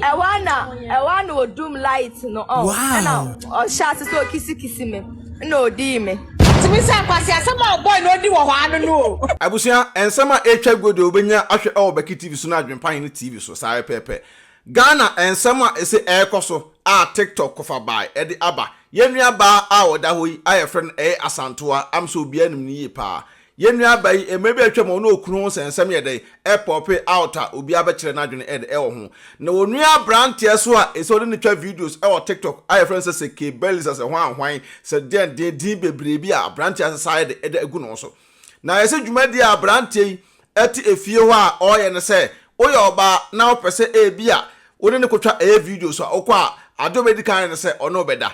Ɛhɔ a na ɛhɔ a na odum light no ɔn ɛna ɔhyɛ ase sɛ okisikisi me na odii me. Tumi sɛ nkwasi asɛm a ɔbɔe na odi wɔ hɔ ano no o. Abusua, nsɛm a ɛretwa guo deɛ wobɛnya ahwɛ ɛwɔ Baki TV so ne Adwempa Hene TV so saa ara pɛɛpɛ. Ghana nsɛm a ɛse ɛrekɔ so a TikTok kofa bae ɛde aba. Yɛn nua baa a ɔda hɔ yi a yɛfrɛ no Ɛyɛ Asantewa, am sɛ obiara nim no yie paa. Yɛn nuaba yi, mmere bi a atwam ɔne okunu ho nsɛnsɛm yɛ dɛn? Ɛpɔpe out a obiara bɛkyerɛ n'adwene ɛ ɛwɔ ho. Na onua aberanteɛ nso a ɛsɛ ɔne no twa videos ɛwɔ TikTok a yɛfrɛ no sɛ sɛ Kay Berlitzer sɛ hwan hwan sɛ deɛn deɛn din bebree bi a aberanteɛ asesa ayɛ dɛ ɛde agu ne ho so. Na yɛsɛ dwumadie a aberanteɛ yi ɛte efie hɔ a ɔyɛ no sɛ woyɛ ɔbaa na wopɛ sɛ ebia wo ne no kɔtwa ɛyɛ videos a wokɔ a adeɛ ɔbɛdi kan ayɛ no sɛ ɔne wo bɛda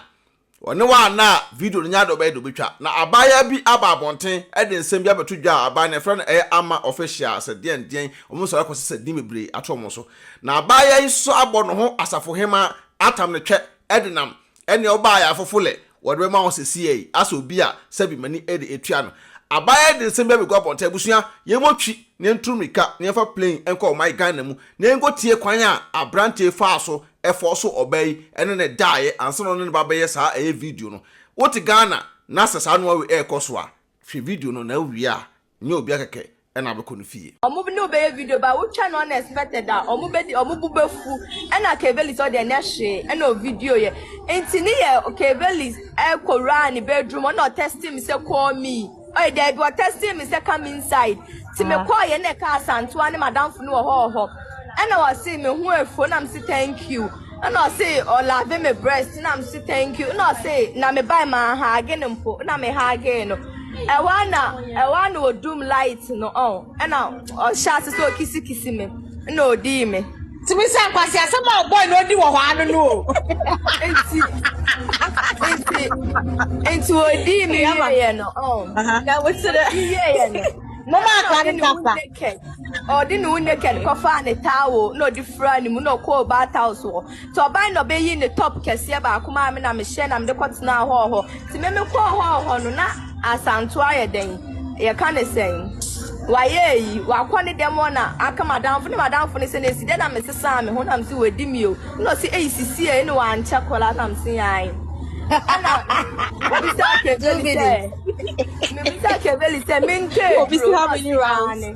Wɔne wo a na video no nyɛ ade a wɔbɛyɛ de wobɛtwa. Na abaayewa bi aba abɔnten de nsɛm bi abɛto dwa a aban no ɛfrɛ no ɛyɛ Ama Official sɛ deɛn deɛn wɔn nsɔre akɔ sɛ sɛ din bebree ato wɔn so. Na abaayewa yi nso abɔ ne ho asafohema atam ne twɛ denam ɛneɛ wobaa ayafofo lɛ wɔde bɛma wo sɛsiɛ yi asɛ obi a sɛbi mani de atua no. Abaayewa yi de nsɛm bi abɛgu abɔnten abusua yɛmmɔ twi na yɛntu mmirika na yɛmfa plane nkɔ ɔman Ghana mu na yɛnkɔtie kwan a abranteɛ yi faa so ɛfɔɔso ɔbaa yi ɛne ne daeɛ ansa na ɔne ne ba bɛyɛ saa ɛyɛ video no wote Ghana na sɛ saa noa wei ɛɛkɔso a hwɛ video no na wowie a nyɛ obia kɛkɛ ɛna abɛkɔ ne fie. Ɔmo ne wo bɛyɛ video but wo twɛ no unexpected a ɔmo bɛdi ɔmo bo bɛfu ɛna Kayveli sɛ ɔde ɛnyɛ hwee ɛna ovideo yɛ nti ne yɛ Kayveli ɛɛkɔ wuraa ne bedroom ɔna ɔtɛste me sɛ call me. Ɔyɛ daabi ɔ testing me sɛ come inside ti me kɔɔ yɛ na ɛka asantoa ne madamfo no wɔ hɔ wɔ hɔ ɛna ɔse me ho afuo na mse thank you ɛna ɔse ɔlave me breast na mse thank you na ɔse na me bae ma haage no mpo na me haagee no ɛwɔ na ɛwɔ na ɔdum light no ɔn. Ɛna ɔhyɛ ase sɛ okisikisi me na odii me. Tumi sɛ nkwasi asɛm a ɔbɔe na odi wɔ hɔ ano no o. Nti nti nti odii me ama yɛ no. Na wotere yɛ yɛ no. Mama akwa ne napa. Ɔde ne wo naked kɔfaa ne towel na ɔde fura ne mu na ɔkɔɔ bath house hɔ. Nti ɔbae na ɔbɛyii ne top kɛseɛ baako maa me na mehyɛɛ na mede kɔtenaa hɔɔ hɔ. Nti me mekɔɔ hɔɔ hɔ no na Asantewaa ayɛ dɛn? Yɛka no sɛn? Wayɛ ayi, wakɔ ne dɛm hɔ na aka m'adamfo ne m'adamfo no sɛ na ɛsi dɛn na mesesaa me ho na mese wadi me o. Ɛna ɔse ei sisi ei ne wankyɛ koraa na mese ae. Ɛna mebisaa Keveli sɛ, mebisaa Keveli sɛ mentwaa aduro a ɔde maa ne.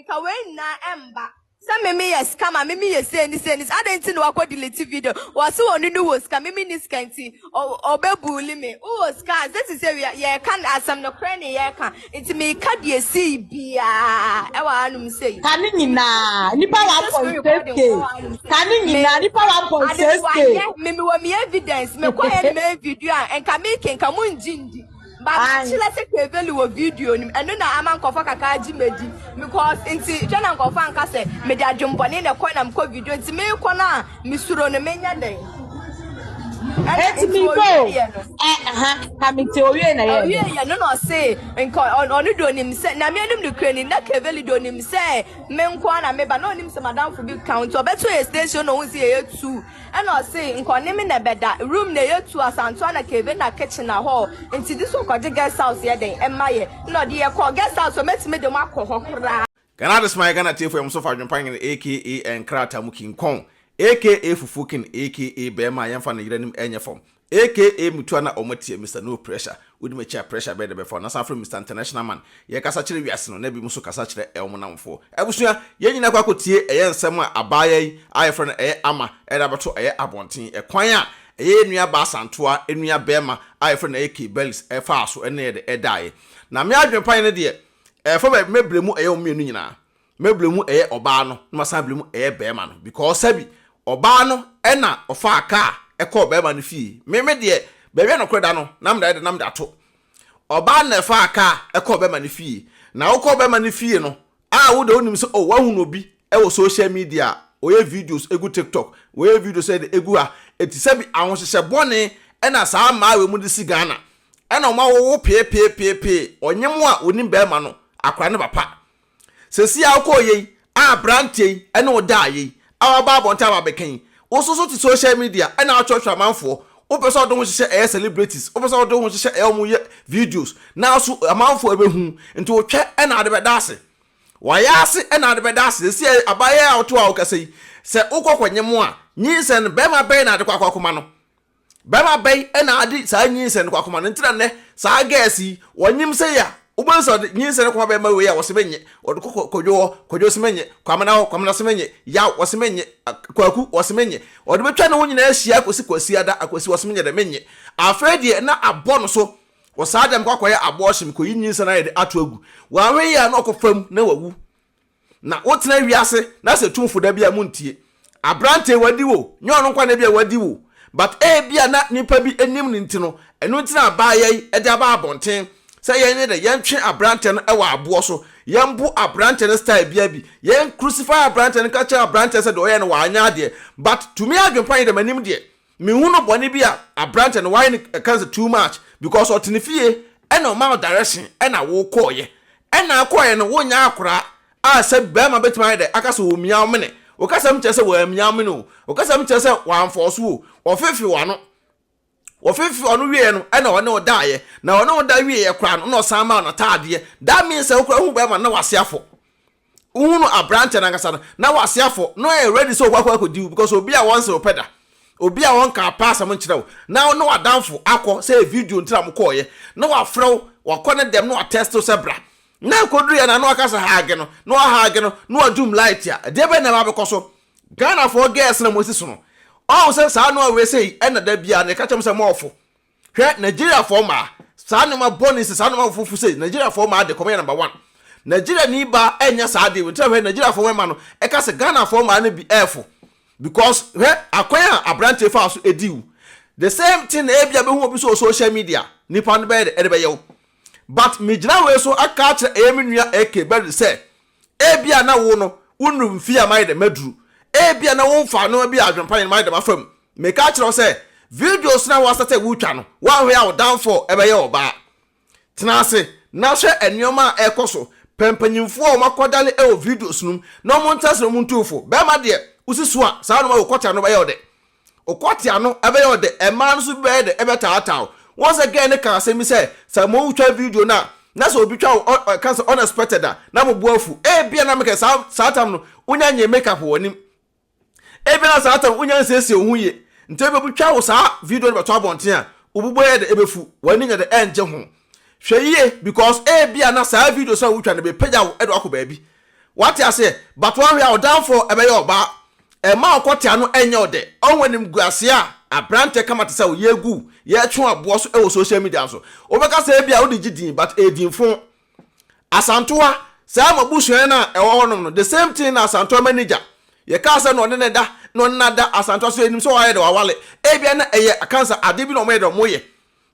Nka wei nyinaa ɛmba. Sɛ me me yɛ sika ma me me yɛ sei ne sei ne sei adɛn nti na wakɔ delete video wɔse ɔno ne wɔ sika me me ni sika nti ɔbɛ bully me wowɔ sika a sɛ sisɛ wia yɛka asɛm no korɛ ne yɛka nti meka deɛ sei biaa ɛwɔ anom sei ka ne nyinaa nipa 1.6k ka ne nyinaa nipa 1.6k me me wɔ me evidence mekɔ yɛ ne me video a nka meke nka mo ngye ndi Makyerɛ sɛ keveli wɔ video no mu ɛno na ama nkɔfɔ kakra agye madi because nti hwɛ na nkɔfɔ anka sɛ mede adwembɔne na ɛkɔ na mekɔ video nti mekɔ no a mesuro no menyɛ dɛn ɛti mi ko ɛha na mi ti owie na yɛ owie yɛ no na ɔse nka ɔno de onim sɛ na mi anim ne kura ni na keveli de onim sɛ me nko na meba na onim sɛ madamfo bi ka nti ɔbɛto yɛ station na ohun sɛ yɛyɛ two Ɛna ɔsee nkɔneme na ɛbɛda room na ɛyɛ tu asantoa na cave na kitchen na hall nti this one kɔgye guest house yɛ dɛn ɛma yɛ na ɔde yɛ kɔɔ guest house ɔmɛtumi de mo akɔ hɔ koraa. Ghana Ade's my Ghana tiefo yɛ mo so fa adwempa nyene aka nkrataa mu kinkɔn aka fufuo kin aka bɛɛma a yɛnfa no yere anim ɛnyɛ fam Aka mutu a na ɔmo atia Mister No Pressure, wodi m'akyi a pressure bɛn na ɛbɛfa wo, na san frɛ me Mister International Man, yɛkasa kyerɛ wiase no, na binom so kasa kyerɛ ɛwɔmo namfoɔ. Abusua, yɛn nyinaa kɔ akɔtie ɛyɛ nsɛm a abaayaa yi a yɛfrɛ no ɛyɛ Ama ɛde abɛto ɛyɛ abɔnten, ɛkwan a ɛyɛ yɛn nua baa Santoa nua bɛɛma a yɛfrɛ no ɛyɛ Kay Bellis ɛfaa so ɛne yɛde ɛdaeɛ. Na me adwene pa yɛ no deɛ ɛfa baabi mɛbrɛ mu ɛyɛ wɔn mmienu nyinaa. Mɛbrɛ mu ɛyɛ ɔbaa no na masan abrɛ mu ɛyɛ bɛɛma no because sɛbi ɔbaa no ɛna ɔfaa kaa ɛkɔɔ bɛɛma no fie me me deɛ baabi a nɔkorɛ da no na mede ayɛ dɛ na mede ato ɔbaa no na ɛfaa kaa ɛkɔɔ bɛɛma no fie na wokɔɔ bɛɛma no fie no a wode wonim sɛ oh wahunu obi ɛwɔ social media a ɔyɛ videos ɛgu tiktok wɔyɛ videos ɛde ɛgu ha ɛti sɛbi ahohyehyɛ bɔne ɛna saa mmaa wei mu de si Ghana ɛna ɔma wowo pee pee pee pee ɔnyem a onim bɛɛma no akora ne papa Seesei a wokɔɔ yei, a aberanteɛ yi ne wo daa yei, a waba abɔnten aba abɛka yi, wo nso so te social media na wokyerɛkyerɛ amanfoɔ, wopɛ sɛ wode ho hyehyɛ ɛyɛ celebrities, wopɛ sɛ wode ho hyehyɛ ɛyɛ wɔn yɛ videos, nanso amanfoɔ ɛbɛhu, nti wotwɛ na wode bɛda ase. Wayɛ ase na wode bɛda ase, seesei a abaayewa yi a wote hɔ a wokasa yi, sɛ wokɔ kɔnyem a, nyinsɛn no, barima bɛn na wode kɔ akɔkoma no? Bɛma bɛn na ade saa nyinsɛn no kɔ akoma no nti na nnɛ saa girls yi wɔnyem sei a wobɛhu sɛ ɔde nyinsɛn no kɔma bɛn ma wei a wɔse menyɛ ɔde kɔ kwadwo hɔ kwadwo se menyɛ kwamena hɔ kwamena se menyɛ yaw wɔse menyɛ kwaku wɔse menyɛ ɔde bɛtwa ne ho nyinaa ahyia akosi kwasiada akwasi wɔse menyɛ dɛ menyɛ afei deɛ na abɔ no so wɔ saa deɛ mekɔ akɔyɛ abɔɔhye mekɔyi nyinsɛn ayɛ de ato agu wɔanwe yɛ a na ɔkɔ fam na wawu Na wotena wiase na sɛ tumfo da bi a muntie. Aberante wadi wo, nyɛ ɔno nkoa na ebia wadi wo but ebia na nipa bi nim no nti no ɛno nti na abaayɛ yi de aba abɔnten sɛ yɛn yɛ dɛ yɛntwe aberante no wɔ aboɔ so, yɛnbo aberante no style biaa bi, yɛn crucify aberante no ka kyerɛ aberante sɛ deɛ ɔyɛ no wanyɛ adeɛ but to me adwenpa yi deɛ m'anim deɛ Mehu no bɔne bi a aberanteɛ no wayɛ no ɛka no sɛ too much because ɔte ne fie ɛna ɔmaa wo direction ɛna wo kɔɔyɛ ɛna akɔɔyɛ no wo nyɛ akoraa a sɛ bɛɛma bɛtumi ayɛ dɛ aka sɛ ɔmia wo mene wo kasa mu kyerɛ sɛ wamia wo mene o wo kasa mu kyerɛ sɛ wamfɔɔso wo o ɔfefe w'ano ɔfefe w'ano wieɛ no ɛna ɔne wo daayɛ na ɔne wo da wieɛ koraa no na ɔsan maa wo nataadeɛ that means sɛ wo koraa hu bɛɛma no na wase afɔ Wohu no aberanteɛ no ankasa no, na w'ase afɔ, na ɔyɛ ready sɛ ɔkɔ akɔdi wo because obi a wɔnse ɔpɛ da, obi a wɔnka apɛ asɛm nkyerɛ wo, na wo ne w'adamfo akɔ sɛ ɛyɛ video nti na mo kɔɔ yɛ, na wafrɛ wo, wakɔ ne dɛm na wa test wo sɛ bra, na ɛkɔduru yɛ no a na waka sɛ hage no, na wa hage no, na wa doom light a, ɛdeɛ bɛn na ɛba abɛkɔ so? Ghanafoɔ girls na mo asi sono, ɔhu sɛ saa noa wei sei ɛna da biara no yɛka kyerɛ mo sɛ moɔfo, Hwɛ Nigeriafoɔ mmaa, saa nnoɔma bɔne sɛ saa nnoɔma foforɔ fu sɛ Nigeriafoɔ mmaa de kɔmɔ yɛ number one. Nigeriani ba ɛnyɛ saa adeɛ wei nti na hwɛ Nigeriafoɔ mmarima no ɛka sɛ Ghanafoɔ mmaa no bi ɛɛfo because hwɛ akwan a abranteɛ faa so ɛdi wo. The same thing na ebia bɛhu obi so wɔ social media nipa no bɛyɛ de ɛde bɛyɛ wo. But megyina wei so aka akyerɛ ɛyɛ me nua AK Berry sɛ Ebia na wo no wonnuru mfe a mayɛ dɛm aduru. Ebia na womfaa nneɛma bi a adwempa yɛ no mayɛ dɛm afa mu. Meka akyerɛ wo sɛ, videos no a woasɛtɛ retwa no, woanhwɛ a wo downfall bɛyɛ ɔbaa. Tena ase na hwɛ nneɛma a ɛrekɔ so. Pɛ mpanyimfo a wɔakwadare wɔ videos no mu na wɔntra ase na wontu wo fo. Bɛrima deɛ, wo si so a, saa nneɛma a wokɔtra no bɛyɛ wo dɛ. Ɔkɔ tia no, ɛbɛyɛ ɔdɛ. Mmaa no nso bi bɛyɛ dɛ, ɛbɛtaataa wo. Wohu sɛ girl no kaa asɛm bi sɛ, sɛ motwa video no a, na sɛ obi twa wo, ɔ, ɔka sɛ unexpected a, na mo bo afu. Ebia na meka saa, saa tam no, wonya nyɛɛ makeup wɔ w'anim. Ebia na saa tam no, wonya nsiesie wo ho yie. Nti ebia obi twa wo saa video no bɛto abɔnten a, wo bo bɛyɛ dɛ, ɛbɛfu, w'ani nyɛ dɛ, ɛrengye ho. Hwɛ yie, because ebia na saa videos a wotwa no bɛpagya wo de wo akɔ baabi. Wate aseɛ? But woahwɛ a ɔdamfoɔ ɛbɛyɛ ɔbaa. Ɛmma ɔkɔtea no ɛnyɛ wo dɛ. Ɔhu animguaseɛ a aberanteɛ kama te sɛ wo yɛgu yɛtwe aboɔ so wɔ social media so. Wobɛka sɛ ebia wode gye din but ɛyɛ din fon. Asantewaa, saa mo abusuaeɛ no a ɛwɔ hɔnom no, the same thing na Asantewaa manager, yɛkaa sɛ na ɔne no da, na ɔne no ada, Asantewaa nso yɛnim sɛ wayɛ dɛ wawale. Ebia na ɛyɛ akansa adeɛ bi na wɔyɛ dɛ wɔyɛ.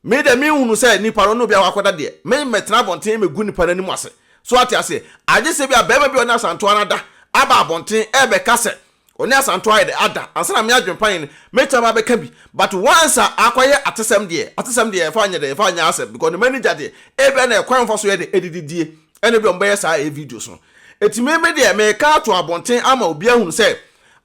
Me deɛ menhunu sɛ nipa no ne obi akɔda deɛ, me mmɛtena abɔnten mmɛgu nnipa no anim ase. So wate aseɛ? Agye sɛ ebia barima bi a ɔne Asantewaa no ada aba abɔnten rebɛka sɛ ɔne Asantewaa ayɛ dɛ ada ansa na me adwempan no mɛtumi aba abɛka bi. But once a akɔyɛ atesɛm deɛ, atesɛm deɛ ɛmfa nyɛ dɛ, ɛmfa nyɛ asɛm because ne m'ani gya deɛ, ebia na ɛkwan a wɔfa so yɛ dɛ, adididie, ɛna ebia wɔbɛyɛ saa ɛyɛ videos no. Enti me, me deɛ meka ato abɔnten ama obiara ahunu sɛ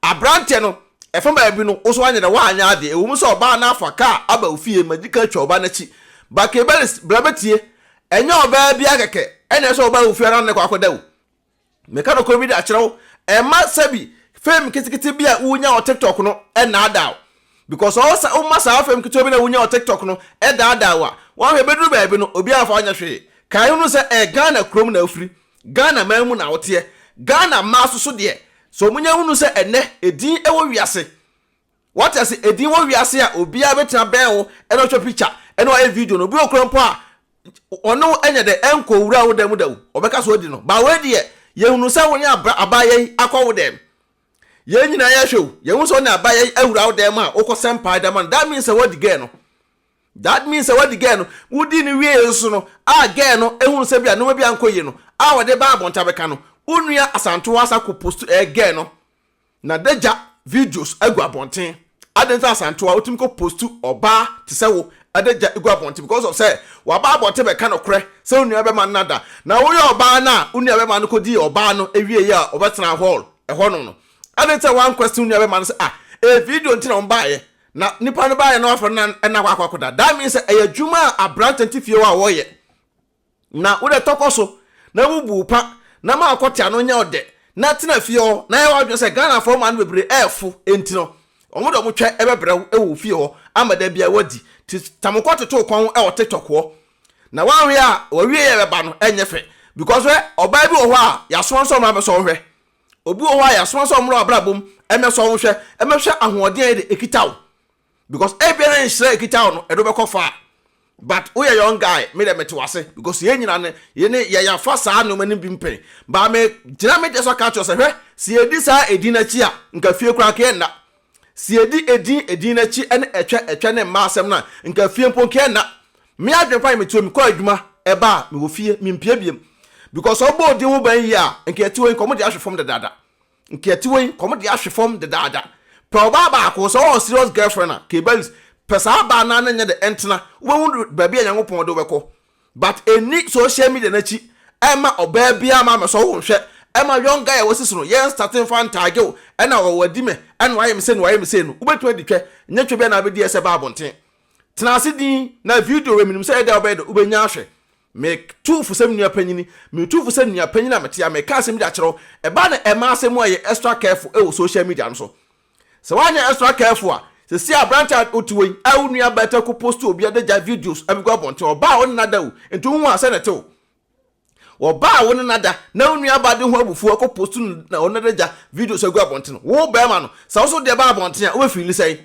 aberanteɛ no, Ɛfa baabi no, wo nso anyɛ dɛ woanyɛ adeɛ. Ɛwom sɛ ɔbaa no afa kaa aba wo fie ma di kan twa ɔbaa no akyi, but Kebberis, bra bɛtie. Ɛnyɛ ɔbaa biara kɛkɛ ɛna ɛsɛ sɛ ɔbaa wo fie ara nnɛ kɔ akɔda o. Meka nokorɛ bi de akyerɛ wo, mma sɛbi fame ketekete bi a wonya wɔ TikTok no nnaadaa wo. Because ɔwɔ sɛ woma saa fame ketewa bi no a wonya wɔ TikTok no daadaa wo a, woahwɛ ɛbɛduru baabi no, obiara mfa wo nyɛ hwee. Kae hunu sɛ ɛyɛ Ghana kurom na wofiri. Ghana man mu na woteɛ. Ghana mmaa so so deɛ sɛ ɔmo nya hunu sɛ ɛnɛ edin ɛwɔ wiase wate ase edin wɔ wiase a obiara bɛtena bɛn wo ɛna ɔtwa picture ɛna wayɛ video no obi wɔ kora mpo a ɔne wo ɛnyɛ dɛ ɛnkɔ wura wo dɛm da o ɔbɛka so adi no ba wei deɛ yɛ hunu sɛ wone abra abaayɛ yi akɔ wo dɛm yɛn nyinaa yɛhwɛ o yɛ hunu sɛ wone abaayɛ yi awura wo dɛm a wokɔ sɛm paa ɛdama no that means sɛ wadi gɛɛ no That means sɛ wadi girl no, wodi no wiee nso no a girl no hunu sɛ bia nnoɔma bi ankɔ yie no a wɔde ba abɔnten abɛka no, wo nua Asantewaa asan akɔ post ɛyɛ girl no n'adagya videos agu abɔnten. Adɛn nti na Asantewaa wotumi kɔ post ɔbaa te sɛ wo adagya gu abɔnten because of sɛ waba abɔnten bɛka nokorɛ sɛ wo nua bɛma no nada na woyɛ ɔbaa no a wo nua bɛma no kɔdii ɔbaa no awieeɛ a ɔbɛtenaa hall ɛhɔnom no adɛn nti na woanquestion wo nua bɛma no sɛ ah ɛyɛ video nti na wɔbaeɛ Na nipa no baayɛ na wafrɛ no na ɛna akɔ akɔda. That means sɛ ɛyɛ adwuma a aberanteɛ nti fie hɔ a wɔyɛ. Na wodɛ tɔkɔ so na bubu pa na ma akɔ tea no nyɛ ɔdɛ na tena fie hɔ na yɛ w'adwene sɛ Ghanafoɔ mmaa no bebree ɛɛfo nti no wɔn de wɔn twɛ ɛbɛbrɛ wo ɛwɔ wo fie hɔ ama da biara wadi ti tamokɔ toto wo kɔn ɛwɔ TikTok hɔ na wanhwɛ a w'awieɛ ɛbɛba no ɛnyɛ fɛ because hwɛ ɔbaa bi wɔ hɔ a yɛasoma no sɛ ɔmmra bɛsɔ wo hwɛ Obi wɔ hɔ a yɛasoma sɛ ɔmmra w'abrabɔ mu mmɛsɔ wo nhwɛ, mmɛhwɛ ahoɔden a yɛ de ekita wo. Because ebia na nhyira a ekita wo no, ɛde wobɛkɔ far. But woyɛ young guy, me deɛ mete w'ase. Because yɛn nyinaa no, yɛne yɛ yɛafa saa nneɛma no bi mpɛn. But megyina me deɛ so aka akyerɛ wo sɛ, hwɛ, sɛ yɛdi saa edin no akyi a, nka fie koraa nka yɛnna. Sɛ yɛdi edin edin akyi ne ɛtwa ɛtwa ne mma asɛm no a, nka fie mpo nka ɛnna. Me adwene fa yɛ metuo mekɔ adwuma, ɛba a, mewɔ fie, mempue biom. Because sɛ wobɔ odin ho ban yie a, nka yɛte hɔ yi, nka wɔde ahwe fam dedaada. Nka yɛte hɔ yi, nka wɔde ahwe fam dedaada. Pɛ ɔbaa baako, sɛ ɔwɔ serious girlfriend a, K-Baris, pɛ saa baa no ara na nyɛ dɛ ntena, wobɛhu baabi a Nyankopɔn de wo bɛkɔ. but ɛnni social media no akyi ɛmma ɔbaa biara ma mɛsɔ wo nhwɛ ɛmma young guy a wasi so no yɛn nstate mfa ntage wo ɛna wɔ wadi me ɛna wayɛ me sei na wayɛ me sei no wobɛtumi adi twɛ nyɛ twɛ bi a na abɛdi ɛsɛ ba abɔnten tena ase din na video wei menim sɛ ɛyɛ dɛ wobɛyɛ dɛ wobɛnya ahwɛ me tu fo sɛ me nua panyini me tu fo sɛ nua panyini a metea meka asɛm bi de akyerɛ wo ɛba na ɛma asɛm mu ayɛ extra careful ɛwɔ social media no so Sɛ wanyɛ extra careful a, sɛsi aberante a wote hɔ yi a wo nua bɛɛta ko post obi de gya videos ɛbɛgu abɔnten, ɔbaa a wo ne no ada o, nti wohu a sɛ na ɛte o. Ɔbaa a wo ne no ada na wo nua ba de ho abufuo akɔ post no na ɔno de gya videos agu abɔnten, wo bɛɛma no, sɛ wo so deɛ ba abɔnten a, wobɛfiili sɛn?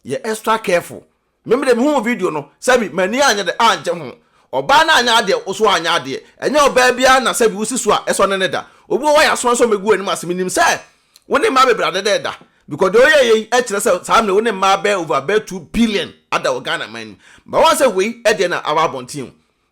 Yɛ extra careful. Me mede mehuu video no, sɛbi m'ani anyɛ dɛ angye ho. Ɔbaa no anyɛ adeɛ, wo so anyɛ adeɛ. Ɛnyɛ ɔbaa biara na sɛbi wosi so a ɛsɔ ne ne da. Obi wɔ hɔ a yɛasoma no sɛ ɔmmɛgu w'anim ase. Menim sɛ wo ne mmaa bebree adeda da, because deɛ woyɛeɛ yi kyerɛ sɛ saa mmerɛ yi wo ne mmaa bɛyɛ over bɛyɛ two billion ada wɔ Ghana man mu. But woahu sɛ wei deɛ na aba abɔnten o.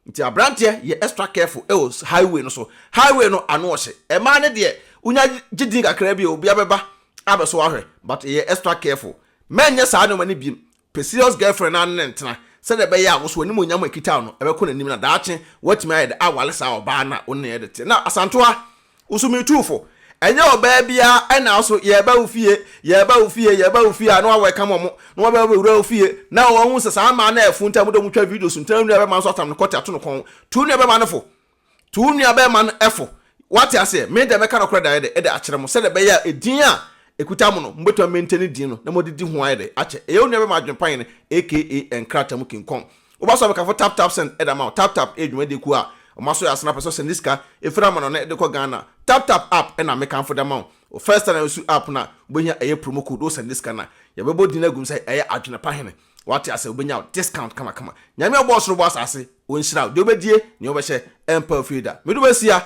Nti abranteɛ yɛ extra careful ɛwɔ highway no so, highway no ano ɔhye, ɛmaa no deɛ wonya gye din kakra bi a obia bɛba abɛso ahwɛ but yɛ extra careful, mɛ nyɛ saa nnoɔma no biem, pɛ serious girlfriend na ne no ntena sɛdeɛ ɛbɛyɛ a woso animuonyam a ɛkita wo no ɛbɛkɔ n'anim na daakye woatumi ayɛ de awale saa ɔbaa no a wo ne no yɛ de teɛ, na Asantewa Wo so metu wo fo. Ɛnyɛ ɔbaa biara na so yɛreba wo fie, yɛreba wo fie, yɛreba wo fie a na wɔawɛkam wɔn, na wɔaba abɛwura wo fie, na wɔahu sɛ saa mmaa no a ɛfo nti a wɔde wɔn twa video so nti na wo nuabarima nso atam no kɔte ato no kɔn. Tu wo nuabarima no fo. Tu wo nuabarima no fo. Woate aseɛ? Me deɛ mɛka nokorɛ daeɛ de akyerɛ mo sɛdeɛ ɛbɛyɛ a edin a ɛkuta mo no, mobɛtumi amɛntɛni din no na moade di ho ayɛ dɛ akyɛ. Ɛyɛ wo nuabarima adwene pa yɛn, aka nkrataa mu kinkɔn. Woba so a bɛkamfo Tap Tap Send de ama wo. Tap Tap yɛ dwumadie kuo a wɔn asɔ yɛ asene a pɛ sɛ ɔsend ne sika firi amanɔne de kɔ Ghana. Tap Tap App na mekamfo de ama wo. Wo First Time na wosu App no a, wobɛhia ɛyɛ promo code wosend ne sika no a, yɛbɛbɔ din no agu mu sɛ ɛyɛ Adwene Pa Hene. Wate aseɛ? Wobɛnya wo discount kamakama. Nyame a ɔbɔɔ soro bɔɔ asase, Ɔnhyira wo. Deɛ wobɛdie, nea wobɛhyɛ, ɛmpa wo fie da. Medum asia!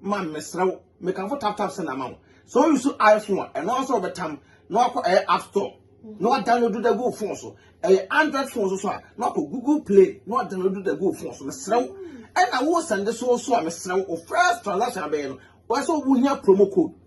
ma mesrɛ wo mekamfo tap tap send ama wo sɛ wo use iphone a ɛno ara sɛ wɔbɛtam na wakɔ ɛyɛ app store na wadownload da gu wo phone so ɛyɛ android phone so so a na wakɔ google play na wadownload da gu wo phone so mesrɛ wo ɛna wo sɛnde so so a mesrɛ wo first transaction abɛyɛ no wɔsɛ wohia promo code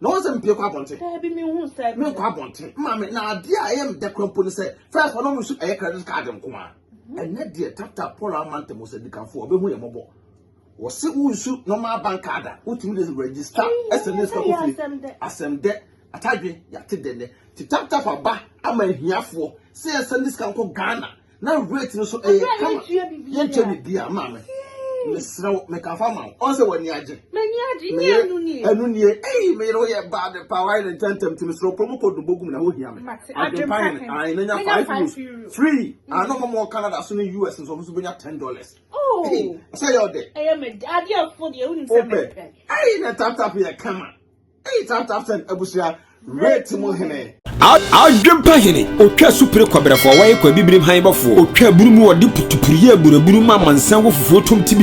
na wɔn sɛ mpie kɔ abɔnten daabi mi hu style mi nkɔ abɔnten maame na adeɛ a ɛyɛ mdɛ kura mpo ne sɛ fɛs hɔ na wɔn nso ɛyɛ credit card nko a mhm. ɛnɛ deɛ tata paul amanta mu sɛ dikanfo ɔbɛhu yɛ mɔbɔ wɔsi wo nsu normal bank card a wotumi de register ɛsɛ ne sika kofi asɛm dɛ atadwe yate dɛ nɛ ti tap tap aba ama ahiafoɔ sɛ ɛsɛ ne sika nkɔ ghana na weight no so ɛyɛ eh, kama yɛntwɛ biribi a maame mesrɛ wo mekafa ma wo ɔn sɛ w'ani agye meyɛ ɛno nie ei meyere wo yɛ bad pa wayɛ ne ntɛntɛm nti mesrɛ wokɔ mu kɔ dombo gum na wohia me adwempa hene ae na nya five euros free ano ma mɔ canada so ne us nso ɔmo so bɛnya ten dollars oh. sɛ yɛ ɔdɛ wopɛ ei na taptap yɛ kama Eyi tap tap send abusua rate mu hene. Adwempa hene, otwa supire kɔbrɛfoɔ, wɔyɛ kɔ abibirim han bɔfoɔ, otwa bunu mu wɔde putupuruyɛ aburabunu ma amansan wɔ fufuo tom tibidi.